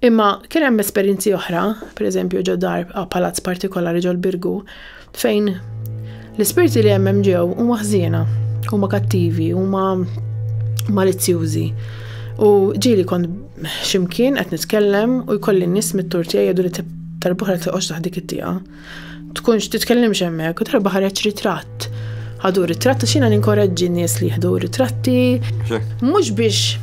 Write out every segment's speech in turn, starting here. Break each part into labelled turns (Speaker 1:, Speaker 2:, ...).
Speaker 1: Imma kien hemm esperjenzi oħra, pereżempju ġo dar palazz partikolari ġol Birgu, fejn l-ispirti li hemm ġew huma ħżiena, huma kattivi, huma malizzjużi. U ġieli kont ximkien qed nitkellem u jkolli nies mit-tur tiegħi jgħidu li tal-boħra toqgħodx taħt dik it-tieqa. tkunx titkellimx hemmhekk, darba ħareġ ritratt. Ħadu ritratt għax jiena ninkoraġġi nies li jieħdu ritratti. Mhux biex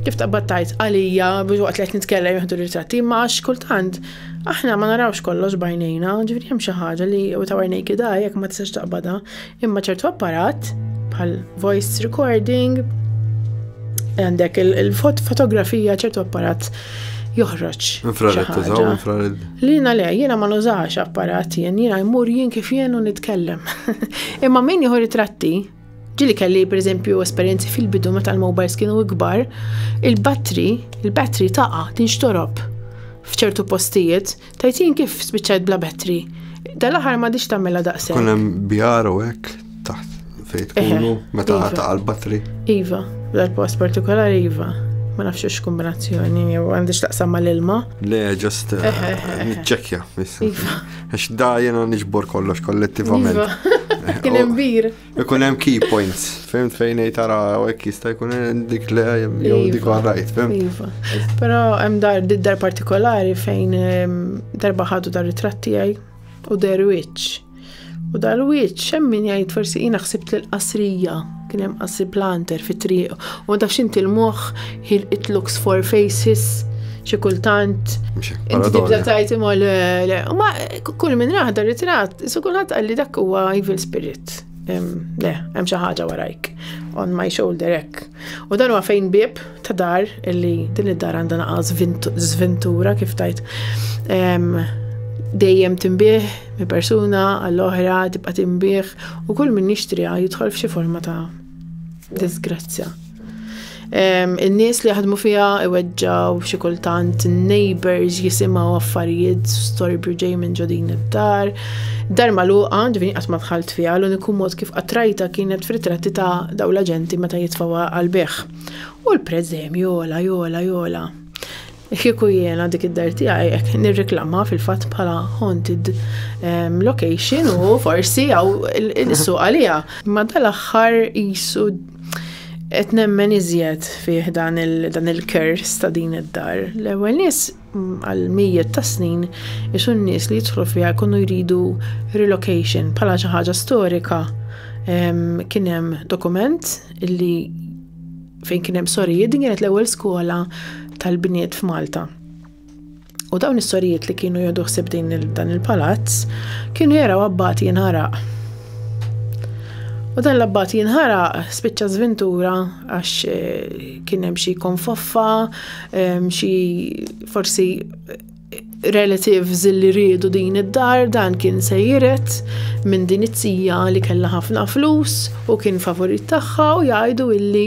Speaker 1: kif taqbad tajt għalija biex waqt li qed nitkellem jieħdu ritratti, ma għax kultant aħna ma narawx kollox bajnejna, ġifieri hemm xi ħaġa li u ta' għajnejk ida jekk ma tistax taqbadha, Imma ċertu apparat, bħal voice recording, għandek il-fotografija ċertu apparat joħroġ. Infrared tużaw,
Speaker 2: infrared. Lina le, jiena
Speaker 1: ma nużax apparat jien, jiena jmur jien kif jien u nitkellem. Imma min jieħu ritratti, ġili kelli per eżempju esperienzi fil-bidu meta l-mobiles kienu ikbar, il-battery, il-battery taqa tinxtorob f'ċertu postijiet, Tajtin kif spiċċajt bla bettri? Dal-aħħar ma dix tagħmilha daqshekk. Kun hemm bjar u
Speaker 2: hekk taħt fejn tkunu meta iva. ta' l-battri. Iva,
Speaker 1: dal-post partikolari iva. Ma nafx x kombinazzjoni jew għandix taqsam mal-ilma. Le, ġust eh,
Speaker 2: ċekja. Iva. Għax da jena nġbor kollox kollettivament. Iva. Kien
Speaker 1: imbir. Ikun hemm key
Speaker 2: points, fimt fejn ngħid tara hekk jista' jkun dik le jew dik iva. rajt, fimt. Iva. Però hemm
Speaker 1: dar dar partikolari fejn ehm, darba ħadu dar ritratt tiegħi u der wiċċ. U dar wiċċ hemm min jgħid forsi jiena ħsibt l qasrija kien hemm qasri planter fit-triq u ma tafx inti l-moħħ He'll it looks for faces, xi kultant. Inti tibda tajt imma le, le. U ma kull minn raħda ritrat, su kulħadd qalli dak huwa evil spirit. Le, hemm xi ħaġa warajk. On my shoulder hekk. U dan huwa fejn bib ta' dar illi din id-dar għandha naqas żventura kif tajt dejjem timbih mi persuna għall-oħra tibqa' timbih u kull min jixtriha jidħol f'xi forma ta' Disgrazzja. In-nies li jaħdmu fiha iweġġaw xi kultant neighbors jisimgħu affarijiet storbju ġej minn ġodin id-dar. Dar magħluqa ġifieri qatt ma dħalt fiha l-uniku mod kif qatrajta kienet f'ritratti ta' daw l-aġenti meta jitfgħu għal beħ. U l-prezzemju jola jola jola. Kieku jiena dik id-dar tiegħi hekk nirreklamha fil-fatt bħala haunted ehm, location u forsi għaw il-suq għalija. Ma dal-aħħar jisu qed nemmen iżjed fih dan il-kers ta' din id-dar. L-ewwel nies mm, għal mijiet ta' snin isu n-nies li jidħlu fiha jkunu jridu relocation bħala xi ħaġa storika. Ehm, kien hemm dokument li fejn kien hemm sorijiet, din kienet l-ewwel skola tal-bniet f'Malta. U dawn is-sorijiet li kienu jodu ħsib din dan il-palazz kienu jaraw abbati jinħaraq. U dan l-abbati jinħaraq spiċċa żvintura għax eh, kien hemm xi konfoffa, eh, xi forsi relatives li riedu din id-dar dan kien se jiret minn din it-tija li kellha ħafna flus u kien favorit tagħha u jgħidu illi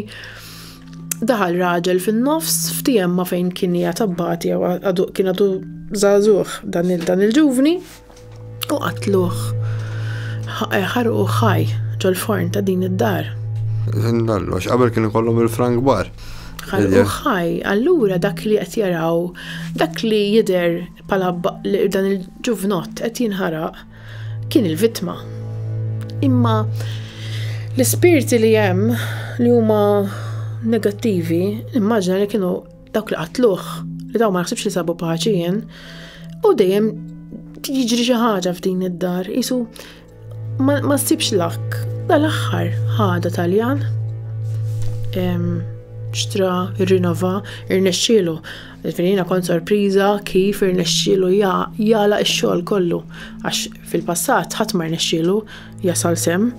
Speaker 1: daħal raġel fin-nofs f'tijemma fejn kien hija tabbati jew kien għadu żagħżugħ dan il-ġuvni. u qatluh, ħarquh ħaj ġol-forn ta' din id-dar. Minn kollox,
Speaker 2: qabel kien ikollhom il-frank bar. Ħarquh
Speaker 1: ħaj, allura dak li qed jaraw, dak li jidher bħala dan il-ġuvnott qed jinħaraq kien il-vittma. Imma l-ispirti li hemm li huma negattivi, immaġina li kienu Dawk li qatluh, li daw ma naħsibx li sabu paċi jien, u dejjem jiġri xi ħaġa f'din id-dar, isu ma ssibx lak. Dal-aħħar ħada Taljan xtra, irrinova, irnexxielu. Finina kont sorpriża kif irnexxielu jala x-xogħol kollu għax Fil-passat ħadd ma rnexxielu jasal sehem.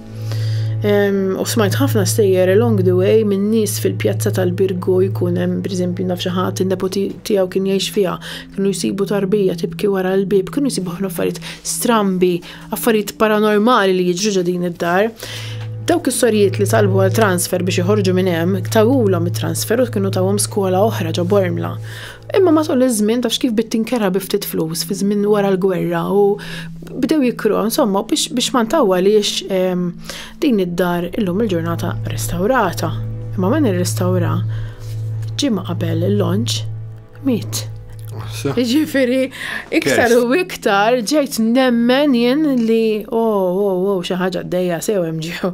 Speaker 1: U smajt ħafna stejjer along the way minn nies fil-pjazza tal-Birgu jkun hemm pereżempju naf xi ħadd in-nepoti tiegħu kien jgħix fiha, kienu jsibu tarbija tibki wara l-bieb, kienu jsibu ħafna affarijiet strambi, affarijiet paranormali li jiġru ġo din id-dar. Dawk is-sorijiet li talbu għal transfer biex iħorġu minn hemm, tawulhom it-transfer u kienu tawhom skola oħra ġo Bormla. Imma matul iż-żmien tafx kif bit tinkerha bi ftit flus fi żmien wara l-gwerra u bdew jikru, insomma, biex, biex ma ntawwaliex ehm, din id-dar illum il-ġurnata restawrata. Imma min irrestawra ġimgħa qabel il-launch miet. Ġifiri, iktar u iktar ġejt nemmen jien li oh, oh, oh, xi ħaġa d-dejja sew hemm ġew.